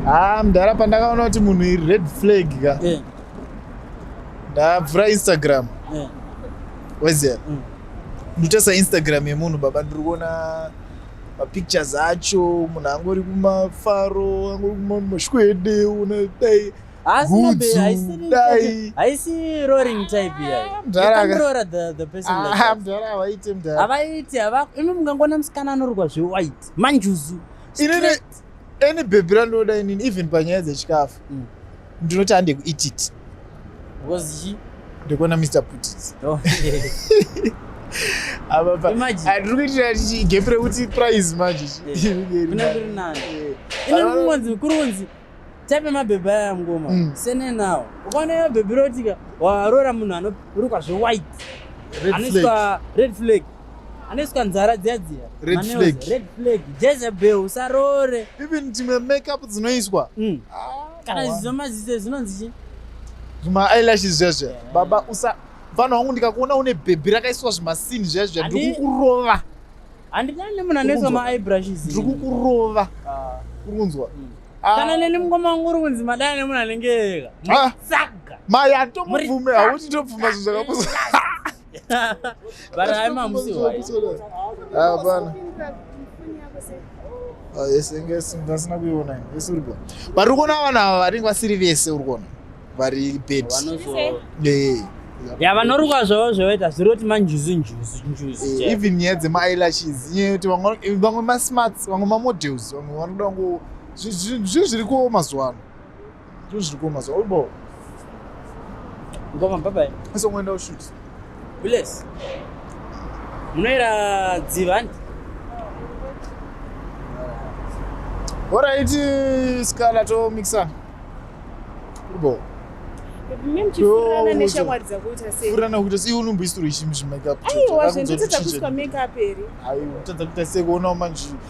haa ah, mdara pandakaona kuti munhu iri red flag ka eh. ndabvura instagram eh. wezera mm. ndotesa instagram yemunhu baba ndiri kuona mapictures acho munhu angori kumafaro angori kumashwede una dai havaite mdara havaite hava imi mungangona musikana anorwa zvewhite manjuzu any bhebhi randinoda inini even panyaya dzechikafu mm. ndinoti hande kuititi ndikuona mr putits oh, atiri kuitira gepi rekuti prize manje kurunzi taipe mabhebhi aya yamngoma mm. sene nawo ukaona mabhebhi rotika waroora munhu anorukwa zvewhite anoiswa red flag anoiswa nzara dziya dziya red flag red flag jezebel usarore even dzimwe makeup dzinoiswa mm. ah, kana zvizo maziso zvinonzi chi zvima eyelashes zviya zviya yeah. baba usa mfana wangu ndikakuona une bhebhi rakaiswa zvimasini zviya zviya ndiri kukurova handidani nemunhu anoiswa maeyebrushes ndiri kukurova ah. uri kunzwa mm. ah. kana neni mukoma wangu uri kunzi madai nemunhu anenge ega ah. saga maya tomubvume hauti tobvuma zvinhu zvakapusa but I'm a musi wise. Ah, bana. Ah, yes, I guess that's not good. Yes, we're good. But we're gonna have a, I think we're serious. Yes, we're gonna. Very bad. Yeah. ya vanorukwa zvavo zvoita zviri kuti manjuzi njuzi njuzi eh, even nyaya dzemailashes nyaya yekuti vamwe masmarts vamwe mamodels vamwe vanoda ngo zvinhu zviri kuwo mazuva ano Tuzviko mazuva ubo. Ngoma bye bye. Ese ngoenda ushoot. Bless. Munoera dzivani. Alright, Scala to mixer. Ubo. furana kuita sei unomboisirwa ichi muzvimakeup aiwa zvendotadza kuiswa makeup here aiwa tadza kuita sei kuonawo manje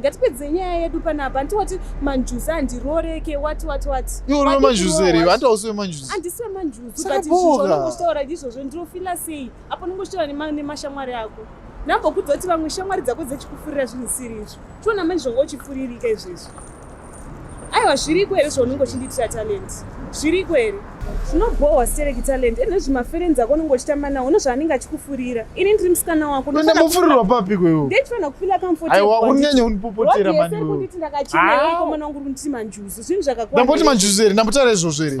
ngatipedze nyaya yedu panapa hanti wati manjuzi handiroreke wati wati wati iwe uri wemanjuzi here vanti hausi wemanjuzi handisi wemanjuzi but izvozvonongoshitaura ndizvozvo ndinofila sei apo nongoshitaura nemashamwari ako ndambokudza kuti vamwe shamwari dzako dzechikufurira zvinhu siri izvo tiona manje zvonga uchifuririka izvezvi aiwa zviriko here zvaunenge uchindiitira talent zviriko here zvinobhohwa stereki talent ende zvimaferenzi ako unenge uchitamba nawo unozvaanenge achikufurira ini ndiri musikana wako ndamufurirwa papi kwewo ndechifanira kufila kamfotiunyanya undipopotera manikuti ndakachinakomana ah. wangu uri kunditi manjuzu zvinhu zvakakwa ndamboti manjuzu here ndambotara izvozvo here